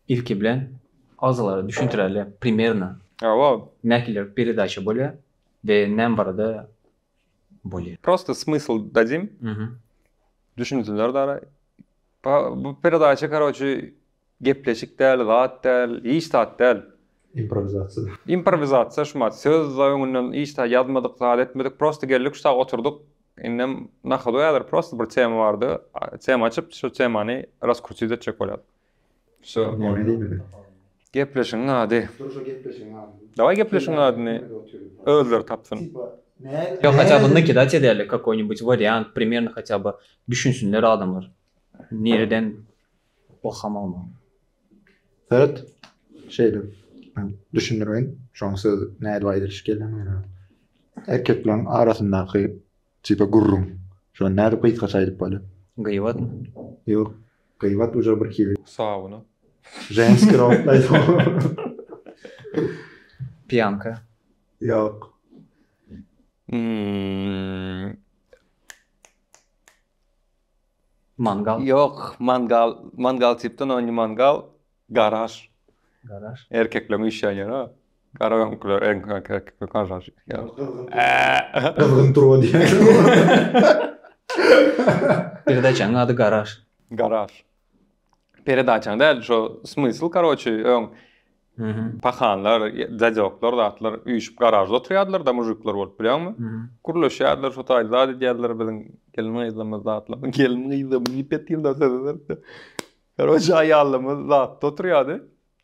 Ilki bilen agzalara düşündireli primerno nähili peredaça bolya we näme barada bolya. Prosta smysl dadym düşünsinler dara bu peredaça karoçi gepleşik däl zat däl hiç zat däl improvizatsiya improvizatsiya şumat söz öňünden hiç zat ýazmadyk zat etmedik prosta geldik şu sag oturdyk Indem na hodu häzir prosta bir tema bardy. Tema açyp şu temany raskrutit etjek bolýas. Şo neme diýmeli? Gepleşigiň ady. Dur şo gepleşigiň adyny. Daway gepleşigiň adyny özleri tapsyn. Ýok haçan bir nakidać edeli kakoýnibuç wariant primerno haçaba düşünsinler adamlar nireden okamagmam. Söz şeýle. Men düşündireýin. Şoň söz nädip aýdylyş gelýär maňa. Erkekleriň arasyndaky tipa gürrüň. Şo nädip gysgaça aýdyp bolýar? Gyýbat. Ýok. Gyýbat uje bir hili. Sauna. Ženski rot aýdyp. Piýanka. Ýok. Mangal. Ýok, mangal, mangal tipden o indi mangal, garaž. Garaž. Erkekleň işýän ýeri o. Garaňkylar erk erk erkekler garaž. Gyzgyn turba diýýärler. Birde jaň ady garaž. Garaž. Peredaçaň däl, şo smysl, karoçi, öň pahanlar, dadýoklar, zatlar üýşüp garažda oturýardylar da mujikler bolup bilýäňmi? Gürleşýärdiler, şo taýda zat edýärdiler biziň gelin-gyzlarymyz zatlar. Gelin-gyzlar diýip ýetýärler sözler. Karoçi aýallarymyz zatda oturýardy.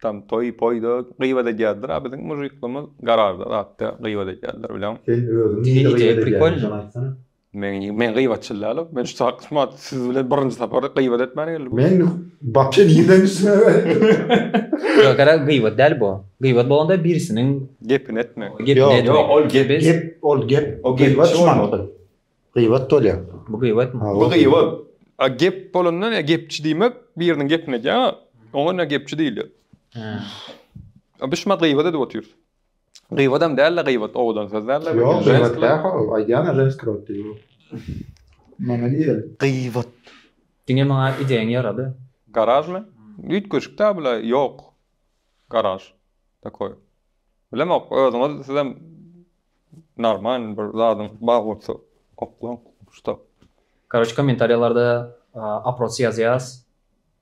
Tam toý-poýda gyýbat edýärdiler, a biziň mujiklerimiz garažda zatda gyýbat edýärdiler bilýäňmi? Sen özüň nirede gyýbat edýärdiň? Men men gyýbatçyl dälok. Men şu taýyklama siz bilen birinji sapar gyýbat etmäne geldim. Men bapja diýlen üstüne berdim. Ýok, gara gyýbat däl bu. Gyýbat bolanda birisiniň gepini etmek. Gepini etmek. Ýok, ol gep, gep, ol gep. O gyýbat bolmaly. Gyýbat bolýar. Bu gyýbat. Bu gyýbat. A gep bolanda ne gepçi diýmek, biriniň gepini edýär, oňa ne gepçi diýilýär. Hä. A biz şumat gyýbat edip otyrys. Gyýbadam dälde gyýbat owadan söz dälde bu. Ýok gyýbat dälho aýdýana ženski rod diýip o. Maňa diýeli. Gyýbat. Diňe maňa ideýaň ýarady. Garažmy? Üýtgeşik däl bula ýok garaž takoý. Bilemok özüňiz sizem normal bir zadyň bar bolsa oklaň şuta. Karoç komentariýalarda aproç ýazýas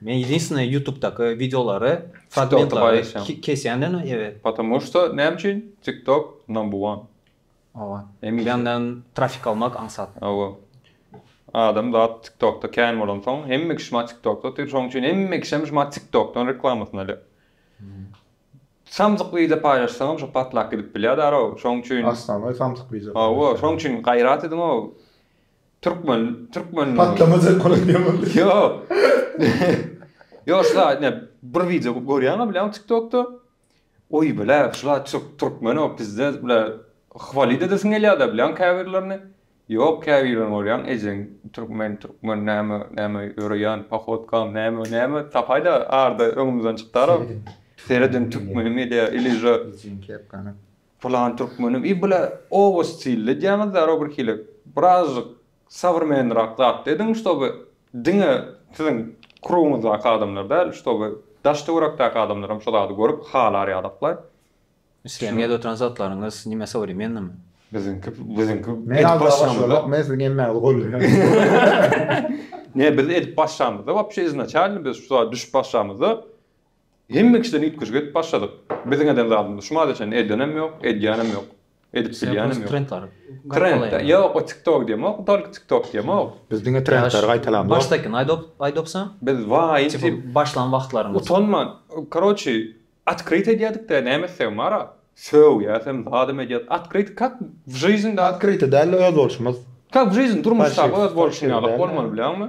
Men ýedinstwnye ýutubdaky wideolary fragmentlary kesýändenem ýa. Patamu şto näme üçin tiktok number one. Oba. Bänden trafik almak aňsat. Oba. Adam zat tiktokda kän bolansoň hemme kişi şma tiktokda otyr şoň üçin hemme kişem şma tiktokdan reklamasyny alýar. Samsyk wideo paýlaşsaňam şo patlap gidip bilýär darao şoň üçin. Aslan we samsyk wideo paýlaşýar. Oba şoň üçin gaýrat ediňo. Türkmen, türkmen. Patlama sen kola diye boldu. Yok. Yok şla ne bir video görýäňmi bilen TikTokda. Oy bile şla çok Türkmen o bizde bile hvalit edesin gelýär da bilen käbirlerini. Yok käbirlerini görýän ejeň Türkmen, Türkmen näme näme ýöreýän pahotkam näme näme tapaýda arda öňümizden çykdara. Seredin Türkmen mi diye ilije. Ejin kepkana. Pylan türkmeniň i bile oba stilli diýýäňiz zero bir hili birazjyk sowrmenrak zat ediň ştoby diňe siziň krugyňyzdaky adamlar däl ştoby daş töwerekdäki adamlaram şo zady görüp halar ýadaklaý. Siziň edip oturan zatlaryňyz nime sowremennymy? Biziňki biziňki edip başlamyzda. Men siziň emmäňizi golleýän. Ne biz edip başlamyzda wapşe iznaçalny biz şu zada düşüp başlamyzda Hemme kişiden üýtgeşik edip başladyk. Biziň eden zadymyzy şu maza çenli edenem ýok, edýänem ýok. Edip bilýänem ýok. Trend, ýok o tiktok diýemok, tolko tiktok diýemok. Biz diňe trendleri gaýtalamzok. Başdaky aýdopsa? Biz waýy başlan wagtlaryňyz. Utanman, karoçi, otkryt edýädikdä näme etsegem bara. Sögýäs hem, zat hem edýäs. Otkryt kak w žyznda. Otkryt däl-de özboluşymyz. Kak w žyzn, durmuşdaky özboluşyň ýaly bolmaly bilýäňmi?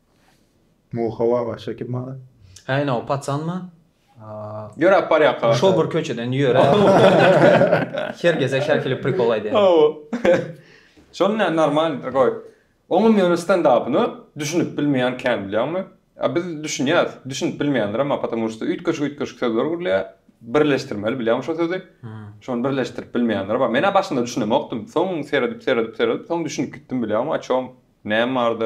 Muha baba çekip maňa. Häý ine o paçanmy? Ýöräp barýarka. Şol bir köçeden ýöräp. Her gezek her hili prikol aýdýar. Hawa. Şony näme normalnydyr goý. Oňam ýöne stendapyny düşünip bilmeýän kän bilýäňmi? A biz düşünýäs. Düşünip bilmeýänlerem bar потому что üýtgeşik-üýtgeşik sözler gurulýar. Birleşdirmeli bilýäňmi şo sözi? Şony birleşdirip bilmeýänler bar. Men-ä başynda düşünemokdym. Soň seredip-seredip-seredip soň düşünip gitdim bilýäňmi o çom näme bardy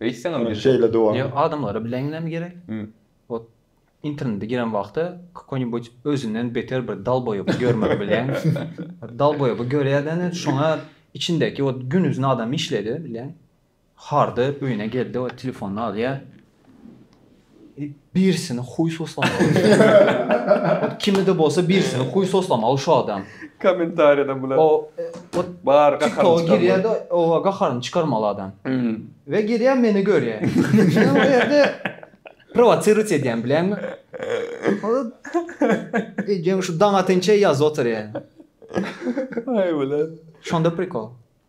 Eýtseňem Ony şeýle dowam Ýa et. adamlara bileňňem gerek. Hum. Ot internete giren wagty kakoňibuç özünden beter bir dalboýoby görmek bileň. Ot dalboýoby görýäden ot şoňa içindäki ot günuzyn adam işledi bileň. Hardy öýüne geldi ot telefonyny alýa. Birisini huý soslamaly. Kimide bolsa birisini huý soslamaly şu adam. Kommentariýada bular. O bar gaharyny çykarmaly. Girýärde o gaharyny çykarmaly adam. We girýär meni görýär. Men o ýerde prowotsiruýt edýän bileňmi? Ejeň şu daň atynça ýazyp oturýar. Aý bile. Şonda prikol.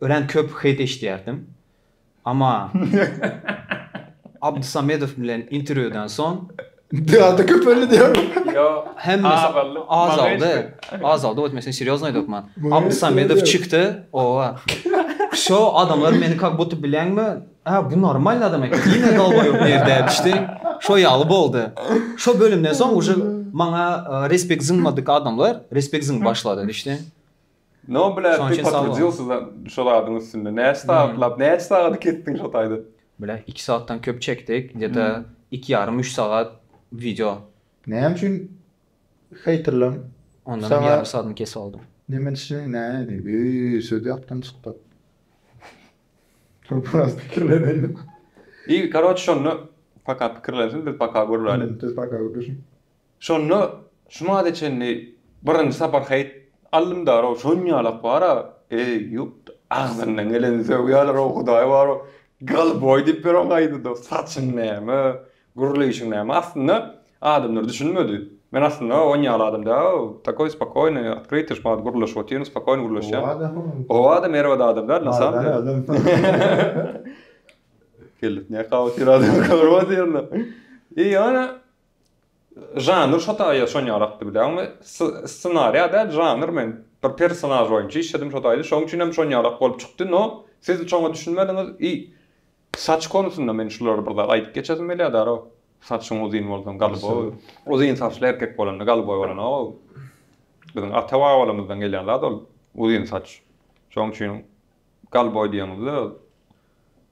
Örän köp heýt eşidýärdim. Amma Abdusamedow bilen interwýudan soň Biraz-da köpeldi diýäňmi? Ýok. Hemmesi Azaldy. azaldy. Azaldy, wot men seni serýozno aýdypman. Maýa Abdusamedow Serýoz. çykdy. Oba. Şo adamlar meni kak buty bilýäňmi? Ä, bu normalny adam eken. Diýme dolbaýob nirde düşdi. Şo ýaly boldy. Şo bölümden soň uje maňa e, respekt zyňmadyk adamlar respekt zyňyp başlady düşdi. No bile bir potrudyusuzam şol adyň üstünde. Näçe sagatlap, näçe sagady kesdiň şo taýda? Bile iki sagatdan köp çekdik, gde iki ýarym üç sagat wideo. Näme üçin heýterleň ondan ýarym sagadyny kesip aldy? Neme üçin nädi? Eý söz ýatdan çykdy. Köp biraz pikirleneli. Eý karoç şonda paka pikirlensin biz paka görüläli. Biz paka görüşiň. Şonda şumada çenli birinji sapar heýt aldymda-row, şonýalak bar-a, eý, ýup, agzyndan geleni sögýärler-ow, Hudaý bar-ow, golboý diýip ýören gaýdyda, saçyň näme, gürleýşiň näme, aslynda adamlar düşünmedi. Men aslynda on ýaly adam däl-ow, takoý spokoýnyý, otkrytyý şumat gürleşip otyryn, spokoýnyý gürleşýän. Howa-da merwede adam däl, na samom dele. Kellesine kaba otyr adam, görüp otyryn-da. I ýöne Žanr şo taýda şon ýarakdy bilen we ssenariýa däl žanr men bir personaž boýunça işledim şo taýda şoň üçin hem şon ýarak bolup çykdy no siz şoňa düşünmediňiz i saç konusynda men şulary bir zat aýdyp geçesim gelýär daroo saçyň uzyn bolsa galyboý uzyn saçly erkek bolanda galyboý bolanow biziň ata babalarymyzdan gelýän zat ol uzyn saç şoň üçin galyboý diýeňizde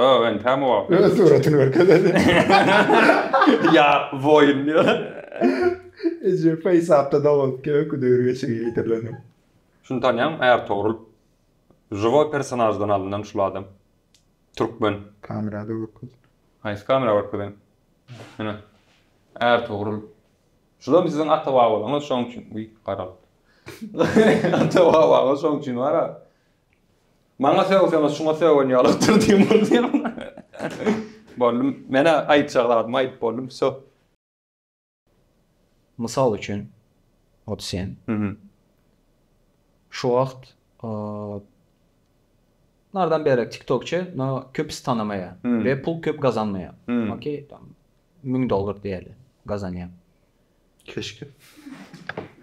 Ho, entägem wagt. Öz suratyn görkezedi. Ýa boýun diýýär. Eje feýsapda dogulupky öküz öýrgeçigi ýitirleni. Şuny tanýaňmy Ärtogrul. Žiwoý personaždan alyndan şul adam. Türkmen. Kamerada görkez. Haýsy kamera görkezeýin. Hine. Ärtogrul. Şulam siziň ata babalaryňyz şoň üçin. Uý garalypdyr. Ata babaňyz şoň üçin bar-a. Maňa sögseňiz şuňa sögen ýalykdyr diýen bolýar. Boldy, men-ä aýtjak zadymy aýdyp boldum, wsýo. Mysal üçin, ot sen şu wagt nardan beýläk tiktokçy no köpüs tanamaýar we pul köp gazanmaýar. Okey, müň dollar diýeli gazanýar. Keşke.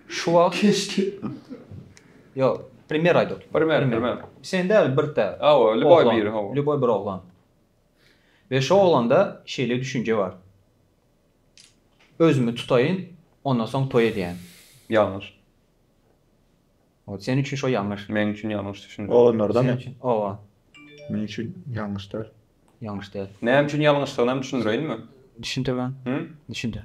Şu wagt Keşke. Ýok, primer aýt otur. Primer, primer. Sen däl, bir tä. Hawa, lýuboý biri, hawa. Lýuboý bir oglan. We şu oglanda şeýle düşünje bar. Özümi tutaýyn, ondan soň toý edýän. Ýalňyş. Ot sen üçin şo ýalňyş. Meň üçin ýalňyş düşündiriş. Oglanlardamy? Sen üçin. Owa. Meň üçin ýalňyş däl. Ýalňyş däl. Näme üçin ýalňyşdygynam düşündireýinmi? Düşündiriň. Hü? Düşündir.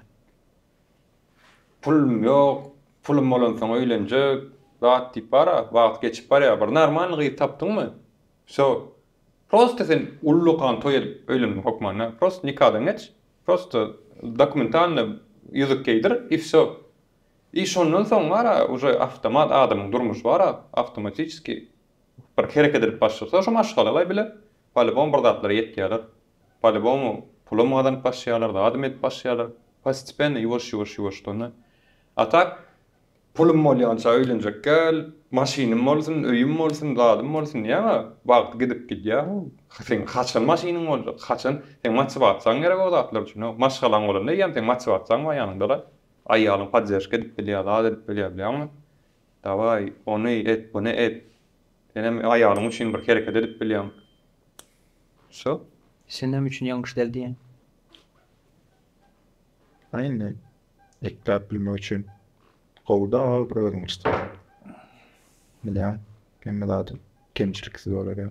Pulum ýok. Pulum bolansoň öýlenjek. Zat diýip bar-a. Wagt geçip barýar. Bir normalny gyz tapdyňmy? Wsё. Prosta sen ullakan toý edip öýlenmek hokmanda. Prosta nikadan geç. Prosta dokumentalny ýüzük geýdir i wsё. I şondan soň bar-a, uje awtomat adamyň durmuşy bar-a, awtomatiçeski bir hereket edip başlasa, şo maşgalalar bile polýubom bir zatlara ýetýärler. Polýubom pulum gazanyp başlaýarlar, zadam edip başlaýarlar. Postepenno, ýuwaş-ýuwaş, ýuwaşdana. A tak, pulum bolýança öýlenjek gel, maşynym bolsun, öýüm bolsun, zadym bolsun diýäň-ä, wagt gidip gidýär. Seň haçan maşynyň boljak, haçan? Seň motiwasiýaň geregok zatlar üçin-ow. Maşgalaň bolanda eýýäm seň motiwasiýaň bar ýanyňda-da. Aýalyň podderžka edip bilýär zat edip bilýär bilýäňmi? Daway ony et buny et. Senem aýalyň üçin bir hereket edip bilýäň. Wsyo. Senem üçin ýalňyş däl diýýäň. Aýna ekläp bilmek üçin gowy dal bir özüňi çytyr. Bilýäň hemme zady kemçiliksiz bolar ýa.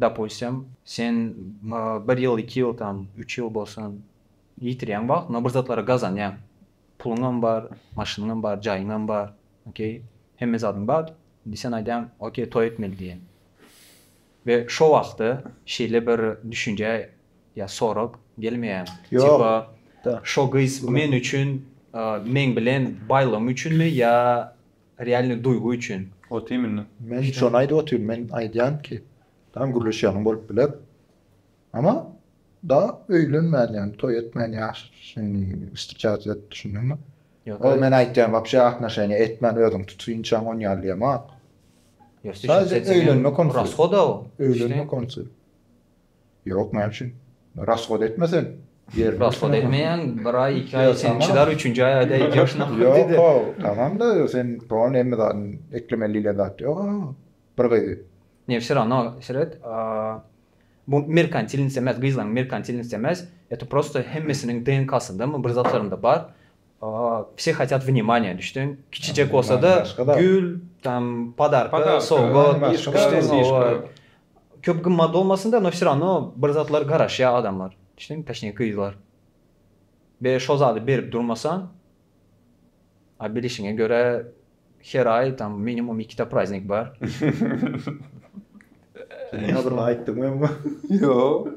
Dopustim, sen bir ýyl, iki ýyl, tam, üç ýyl bolsa ýitirýäň wagtyňy, bir zatlary gazanýaň. Puluňam bar, maşynyňam bar, jaýyňam bar, okey, hemme zadyň bar. Indi sen aýdýaň, okey, toý etmeli diýýäň. We şo wagtda şeýle bir düşünje ýa sorag gelmeýärmi? Tipa, şo gyz men üçin, meň bilen baýlygym üçinmi ýa Realny duýgy üçin. Ot iýmini. Men hiç şony aýdyp otyryn men aýdýan ki tamam gürleşýäniň bolup biler ama da öýlenmän ýagny toý etmän ýaşaşyny istijatyýet düşündiňmi ol men aýtýan wapşe atnoşeniýa etmän özüň tut synçaň on ýaly diýemok saýja öýlenme konusy rashoda öýlenme konusy. Ýok, näme üçin? Rasgod etmesen, ýerine Rasgod etmeýäň, bir aý, iki aý sen çydar, üçünji aý aýda edýärsiň ahyryn diýdi. Ýok-how, tamam-da, sen soňra hemme zadyny eklemeli diýlen zat ýok-how, bir gyzy. Ne wsё rawno, seret, bu merkantilnost emas, gyzlaryň merkantilnosti emas, eto prosto hemmesiniň DNK-syndamy, bir zatlarynda bar, wsё hatýat wнимание, düşdüň, kiçijek bolsa-da, gül, tam, podarka, sowgat, düşdüň, Köp gymmat bolmasyn da, no vse rawno bir zatlar garaşýar adamlar, düşdüňmi, toçnije gyzlar. Be şo zady berip durmasaň, a bilişiňe görä her aý tam minimum ikide praznik bar. Sen adyny aýtdyňmy emma? Ýok.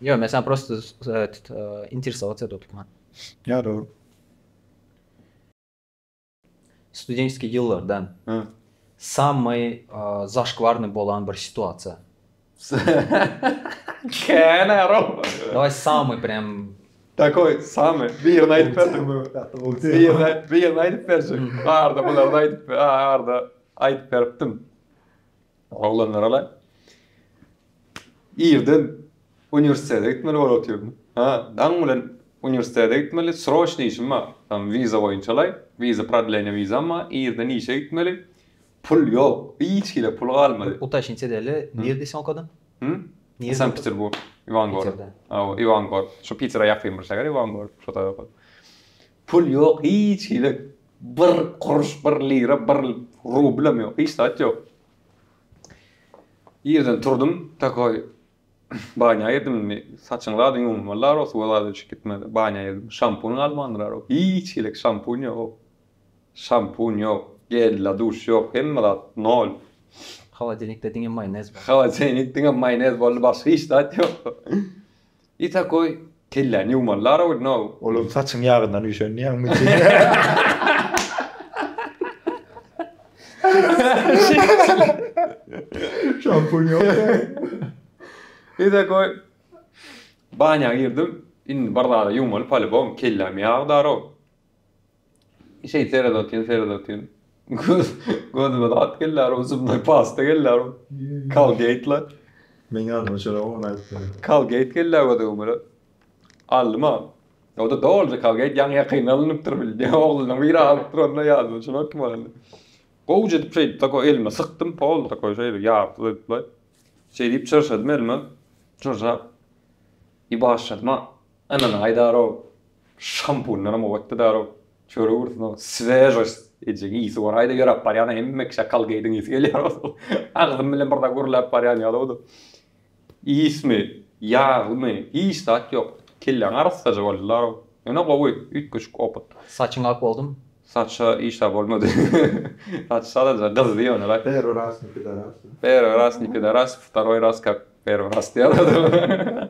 Ýok, men saňa prosto eet, interesowats etip otyrman. Ýa dogry. Studentskiý ýyllardan. Hä. Sammy zaşkwarnyý bolan bir situasiýa. Kän aro. Dawaý sammy prem Takoý, samy, birini aýdyp berdim bu. Birini, birini aýdyp berjek. Arda bularny aýdyp, arda aýdyp beripdim. Oglanlara-la irden uniwersitete gitmeli bolup otyryn. Hä, daň bilen uniwersitete gitmeli, sroçny işim bar. Tam wiza boýunça-laý, wiza, prodleniýe wizam bar, irden işe gitmeli. Pul ýok, hiç hili pul galmady. Utashnice edeli, nirede sen okadyň? Hä? Sankt-Peterburg, Iwangorod. Hawa, Iwangorod. Şu Pitere ýakyn bir şäher Iwangorod, şo tarapa. Pul ýok hiç hili bir kuruş bir lira bir rublem ýok hiç zat ýok. Ýerden turdum takoý banýa girdim indi saçyňy zady ýuwmalylar o suwa zady düşüp gitmeli banýa girdim şampun galmandyra ýok hiç hili şampun ýok şampun ýok gel la duş ýok hemme zat nol. Holodenikde diňe maýonez bar. Holodenik diňe maýonez boldy başga hiç zat ýok. I takoý kelläni ýuwmalylar ow now. Olar saçyň ýagyndan üýşen diýýäňmi Şampun ýok ýaly. I takoý banýa girdim indi bir zada ýuwmaly palubom kelläm ýag darow. Şeýt seret otyryn, seret otyryn. Gözüme zat gelýär, uzumly pasta gelýär. Kolgeýtla. Meň adyma şolar ony aýdyp berýär. Kolgeýt gelýär gözüme bir. Aldym a. O-da doly kolgeýt, ýaňy ýakynda alnypdyr bildi. Oglunyň biri alypdyr onda ýadyma düşenok kim alandygyny. Gowuja edip şeýdip tako elime sykdym, pol takoý şeýdip ýarypsyz edipla. Şeýdip çyrşadym elime. Çyrşap. I başladym a. Ynyn, haýdar-ow, şampundanam oňatdy däl-ow. Çörek ursun-ow, svežost edýän ysy bar. Haýda ýöräp barýan-a, hemme kişä kalgeýdiň ysy gelýär bolsa. Agzym bilen bir zat gürläp barýan ýaly-ow-da. Ismi, ýaglymy, hiç zat ýok. Kelläň arassaja boldy däl-ow. Ýöne gowy, üýtgeşik opyt. Saçyň ak boldumy? Saça iş-a bolmady. Saç sadajy gyzdy ýöne-le. Perwi raz ni pidaras. Perwi raz ni pidaras, vtaroý raz kak perwi raz diýýär-ow-da.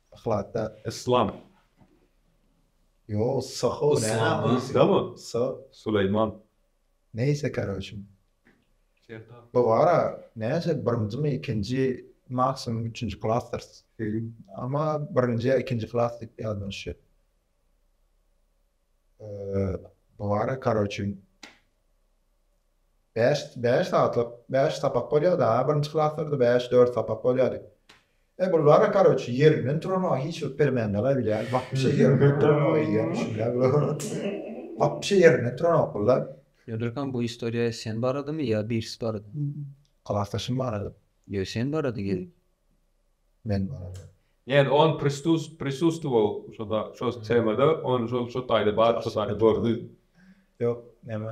Yhlatda. Yslam. Ýok, Soho näme? Yslammy? So. Suleýman. Neýse karoçi. Bu gara, näçe birinjimi, ikinji, maksimum üçünji klasdyrs. Amma birinji ýa ikinji klas diýip ýazylan şu. Bu gara karoçi. Bäş, bäş saatlyk, bäş sapak bolýardy-a, birinji klaslarda bäş, dört sapak bolýardy. E, bulara, karoç, ýerinden turamaga hiç bir permände-la bilýän, wapşe ýerinden turamaga eýýäm düşünýän bular. Wapşe ýerinden turanok bular. Ýönekeýim, bu istoriýa sen baradamy ýa birisi barada? Klasdaşym barada. Ýöne sen barada gelip. Men barada. Ýani on pristus prisustwow şoda şo temada on şo şo taýda bar şo taýda gördi. Ýok, näme?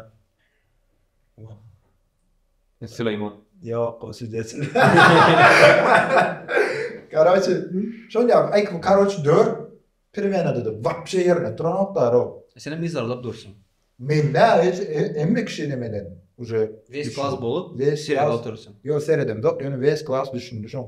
Suleýman. Ýok, o siz dälsiňiz. Karoçi, şol ýa aýk bu karoçi dör pirwenada-da wapşe ýerine turanok da ro. Senem yzarlap dursuň. Men nä hiç emme kişi demeden uje. Wes klas bolup, serede otursuň. Ýok, seredemzok, ýöne wes klas düşündi şoň.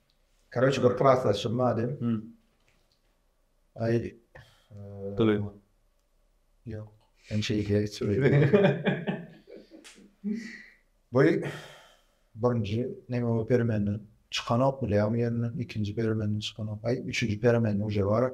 Karoçi bir klasdaşym bady. Aý. Dyly. Ýok. Hem şey diýe geçirdi. Bu birinji neme o permenden çykanok bilýärmi ýerinden ikinji permenden çykanok aý üçünji permenden uje bar.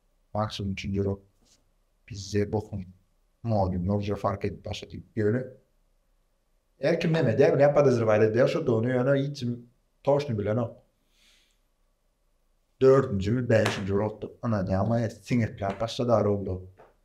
Maňa şonuň üçin ýürek bizde bokuň mody nurja fark edip başlady. Ýöne her kim näme edýär näme podozrewat edýär şudugyny ýöne hiç kim toşny bilenok. Dördünjimi bäşinji urupdyr ynanýaňmy siňekläp başlady arulda.